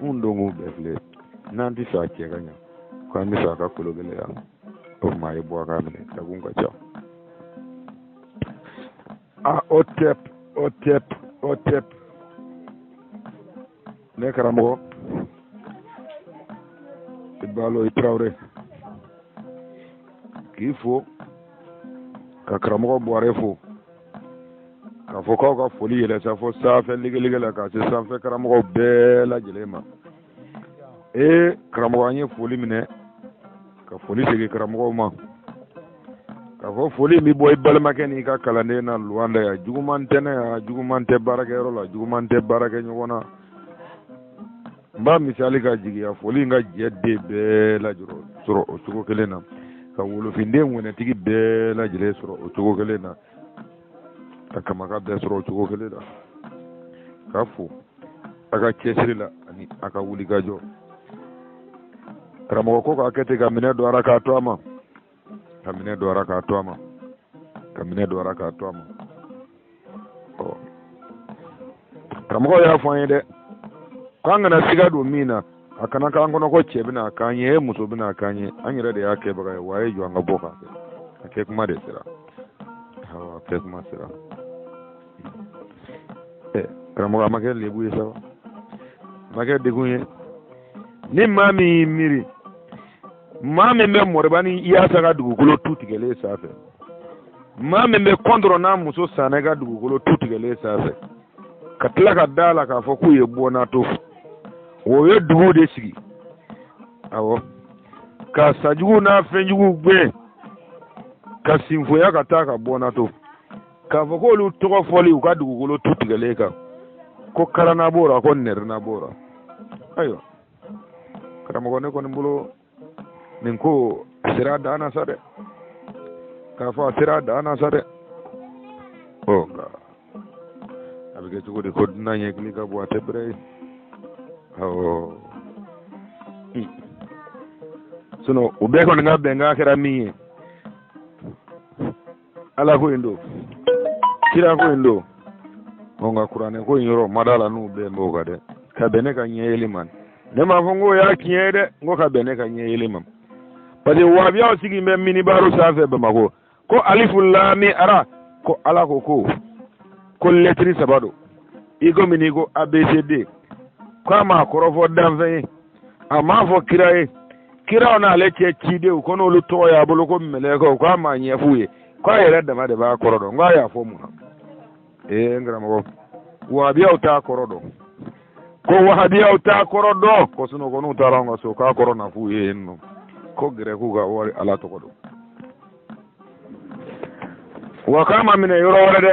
Mun don k'u bɛɛ filɛ n'an t'a fɛ a cɛ ka ɲa ko an b'a fɛ a ka kolo gɛlɛya o tuma a ye bɔ a k'a minɛ dakun ka ca a otɛp otɛp otɛp ne karamɔgɔ i balo i tarawele k'i fo ka karamɔgɔ buwarɛ fo k'a fɔ k'aw ka foli yɛlɛ sa fo sanfɛ legelege la ka se sanfɛ karamɔgɔ bɛɛ lajɛlen ma ee karamɔgɔ an ye foli minɛ ka foli segin karamɔgɔw ma k'a fɔ foli bɛ bɔ i balimakɛ n'i ka kalanden na luwanda yan juguman tɛ ne yan juguman tɛ baarakɛyɔrɔ la juguman tɛ baarakɛɲɔgɔn na n b'a misali ka jigiya foli in ka jɛden bɛɛ lajɔrɔ sɔrɔ o cogo kelen na ka wolofinden wɛnɛtigi bɛɛ lajɛlen sɔrɔ o cogo kelen na ka kamaka bɛɛ sɔrɔ o cogo kelen na k'a fo a ka cɛsiri la ani a ka wulikajɔ karamɔgɔ ko k'a kɛ ten ka minɛ dɔra k'a to a ma ka minɛ dɔra k'a to a ma ka minɛ dɔra k'a to a ma ɔ karamɔgɔ y'a fɔ an ye dɛ k'an kana siga don min na a kana k'an kɔnɔ ko cɛ bɛna k'an ye muso bɛna k'an ye an yɛrɛ de y'a kɛbaga ye wa a ye jɔ an ka bɔ k'a kɛ a kɛ kuma de sera a kɛ kuma sera eh, karamɔgɔ a ma kɛ lebu ye sa wa a ma kɛ degun ye ni maa min y'i miiri maa min bɛ mɔrɔba ni yaasa ka dugukolo tu tigɛlen sanfɛ maa min bɛ kɔntɔrɔ n'a muso sanɛ ka dugukolo tu tigɛlen sanfɛ ka tila ka da a la k'a fɔ k'u ye bɔnnato o ye dugu de sigi awɔ ka sajugu n'a fɛnjugu gɛn ka sinfoya ka taa ka bɔnnato k'a fɔ ko olu tɔgɔ fɔli u ka dugukolo tu tigɛlen kan ko karana b'o la ko nɛrɛna b'o la ayiwa karamɔgɔ ne kɔni bolo nin ko a sera a dan na sa dɛ k'a fɔ a sera a dan na sa dɛ ɔ nka a bɛ kɛ cogo di ko dunan ɲɛkili ka bon a tɛ bɛrɛ ye awɔ sinɔn u bɛɛ kɔni ka bɛnkan kɛra min ye ala ko in don kira ko in don ɔ nka kuranɛ ko in yɔrɔ ma d'a la n'u bɛn b'o kan dɛ ka bɛn ne ka ɲɛ yeli ma ne m'a fɔ n k'o y'a tiɲɛ ye dɛ n ko ka bɛn ne ka ɲɛ yeli ma parce que wahabiyaw sigi bɛ minibaru sanfɛ bamakɔ ko alifu laami ara ko ala ko ko ko lɛtiri saba don i komi n'i ko abcd k'a m'a kɔrɔ fɔ danfɛn ye a m'a fɔ kira ye kiraw n'ale cɛ cidenw ko n'olu tɔgɔ y'a bolo ko mɛlɛkɛw k'a m'a ɲɛf'u ye k'a yɛrɛ dama de b'a kɔrɔ dɔn k'a y'a fɔ mun na ee n karamɔgɔ wahabiyaw t'a kɔrɔ dɔn ko wahabiyaw t'a kɔrɔ dɔn ko sinɔn ko n'u taara an ka so k'a kɔrɔ na f'u ye yen nɔ ko gɛrɛkiw ka wari ala tɔgɔ don wa k'a ma minɛ yɔrɔ wɛrɛ dɛ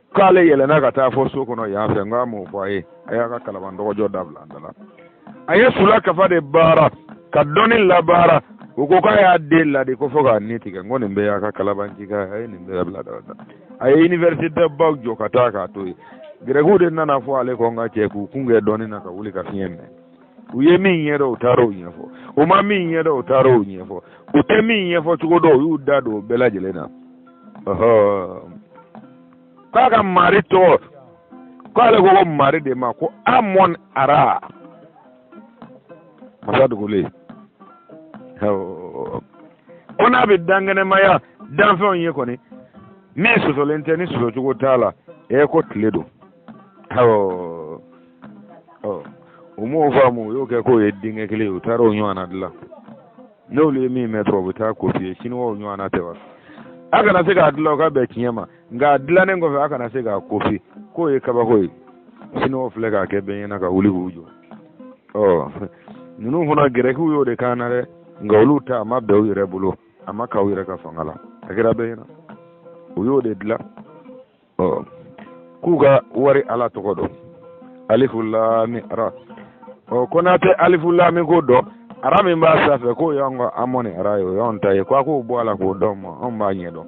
k'ale yɛlɛnna ka taa fo so kɔnɔ yan fɛ n k'a m'o fɔ a ye a y'a ka kalaban dɔgɔjɔ dabila an dala a ye sula kafa de baara ka dɔnni labaara u ko k'a y'a den ladi ko fo k'a ni tigɛ n ko nin bɛɛ y'a ka kalabancikan ye a ye nin bɛɛ bila dabila a ye iniverisite baw jɔ ka taa k'a to yen gɛrɛkiw de nana fɔ ale kɔ n ka cɛ k'u kun kɛ dɔnni na ka wuli ka fiɲɛ minɛ u ye min ɲɛ dɔn u taara o ɲɛfɔ u ma min ɲɛ dɔn u taara o ɲɛfɔ u tɛ min ɲɛfɔ cogo dɔn u y'u da don o bɛɛ lajɛlen na k'a ka mari tɔgɔ k'ale ko ko mari de ma ko amɔn ara masa dogolen ko n'a bɛ dankɛnɛmaya danfɛnw ye ko ni min sɔsɔlen tɛ ni sɔsɔcogo t'a la ɛ ko tile don u m'o faamu u y'o kɛ k'o ye denkɛ kelen ye u taara o ɲɔgɔnna dilan n'olu ye min mɛn dɔrɔn u bɛ taa kopiye siniwaw ɲɔgɔnna tɛ wa a kana se k'a dilan o ka bɛn tiɲɛ ma nka a dilannen kɔfɛ a kana se k'a kopi k'o ye kabako ye siniwaw filɛ k'a kɛ bɛɛ ɲɛna ka wuli k'u jɔ ɔ ninnu fana gɛrɛkiw y'o de kɛ an na dɛ nka olu ta a ma bɛn u yɛrɛ bolo a ma k'u yɛrɛ ka fanga la a kɛra bɛɛ ɲɛna u y'o de dilan ɔ k'u ka mari ala tɔgɔ dɔ alifu laami ara ɔ ko n'a tɛ alifu laami ko dɔn ara min b'a sanfɛ k'o y'an ka amɔni ara ye o y'anw ta ye ko a k'o bɔ a la k'o d'an ma anw b'a ɲɛdɔn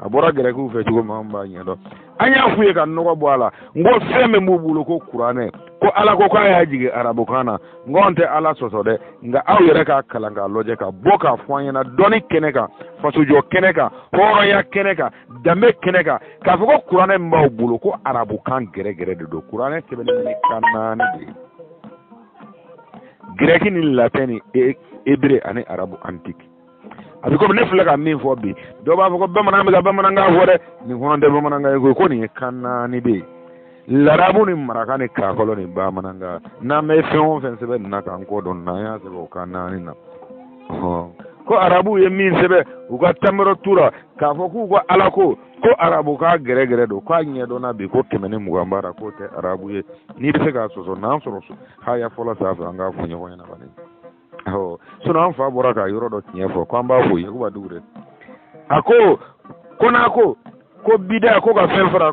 a bɔra gɛrɛkiw fɛ cogo min anw b'a ɲɛdɔn an y'a f'u ye ka nɔgɔ bɔ a la n ko fɛn min b'u bolo ko kuranɛ ko ala ko k'a y'a jigin arabukan na n ko anw tɛ ala sɔsɔ dɛ nka aw yɛrɛ k'a kalan k'a lajɛ ka bɔ k'a fɔ an ɲɛna dɔnni kɛnɛ kan fasojɔ kɛnɛ kan hɔrɔnya kɛnɛ kan danbe kɛnɛ kan k'a fɔ ko kuranɛ min b'aw bolo ko arabukan gɛrɛgɛrɛ de don kuranɛ sɛbɛnnen bɛ ni kan naani de ye gɛrɛki ni latɛn ni ebere e, ani arabu antiki a bɛ komi ne filɛ ka min fɔ bi dɔw b'a fɔ ko bamanan bɛ ka bamanankan fɔ dɛ nin kɔnɔ tɛ bamanankan ye koyi ko nin ye kan naani de ye larabu ni maraka ni kakɔlɔ ni bamanankan n'an bɛ fɛn o fɛn sɛbɛn nin na kan ko don n'an y'a sɛbɛn o kan naani na ko arabuw ye min sɛbɛn u ka tamaro tu ra k'a fɔ k'u ka ala ko ko arabukan gɛrɛgɛrɛ don k'a ɲɛdɔnna bi ko kɛmɛ ni mugan b'a la k'o tɛ arabu ye n'i bɛ se k'a sɔsɔ n'an sɔrɔ haya fɔlɔ sanfɛ an k'a fɔ ɲɔgɔn ɲɛna kɔni ɔ sinɔn an fa bɔra ka yɔrɔ dɔ tiɲɛ fɔ k'an b'a fɔ yakuba dukure a ko ko n'a ko ko bida ko ka fɛn fara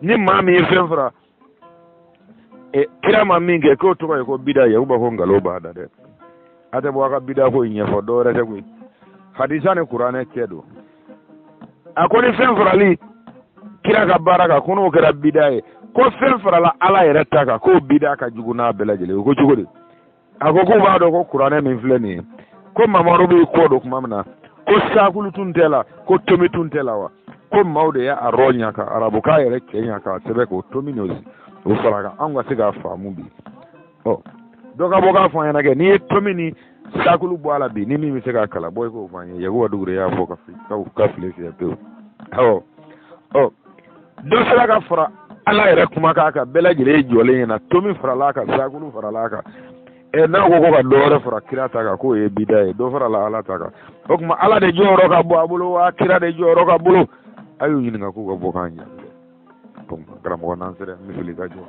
ni maa min ye fɛn fara e, kira ma min kɛ k'o tɔgɔ ye ko bida yakuba ko nkalon b'a da dɛ a tɛ bɔ a ka bida ko in ɲɛfɔ dɔwɛrɛ tɛ koyi hadisa ni kuranɛ cɛ don a ko ni fɛn farala kira ka baara kan ko n'o kɛra bida ye ko fɛn farala ala yɛrɛ ta kan k'o bida ka jugu n'a bɛɛ lajɛlen ye ko cogo di a ko k'u b'a dɔn ko kuranɛ min filɛ nin ye ko mamadu b'i kɔ don tuma min na ko sakulu tun t'a la ko tomi tun t'a la wa ko maaw de y'a rɔɲa ka arabukan yɛrɛ cɛɲa k'a sɛbɛn k'o tomi n'o o fara a kan anw ka se k'a faamu bi ɔ dɔ ka bɔ k'a fɔ an ɲɛna kɛ n'i ye tomi ni sakulu bɔ a la bi ni min bɛ se k'a kalan bɔ i k'o fɔ an ye yakuba dukure y'a fɔ ka fili fiyɛ pewu awɔ ɔ dɔ sera ka fara ala yɛrɛ kumakan kan bɛɛ lajɛlen ye jɔlen ɲɛna tomi farala a kan sakulu farala a kan ɛ n'a ko ko ka dɔ wɛrɛ fara kira ta kan k'o ye bida ye dɔ farala ala ta kan o tuma ala de jɔyɔrɔ ka bon a bolo wa kira de jɔyɔrɔ ka bon a y'u ɲininka k'u ka bɔ k'an ɲɛ donc karamɔgɔ n'an sera misili ka jɔ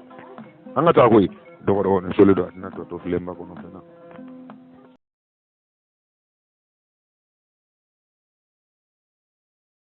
an ka taa koyi dɔgɔdɔgɔnin soli don a tɛna tɔ to filenba kɔnɔfɛn na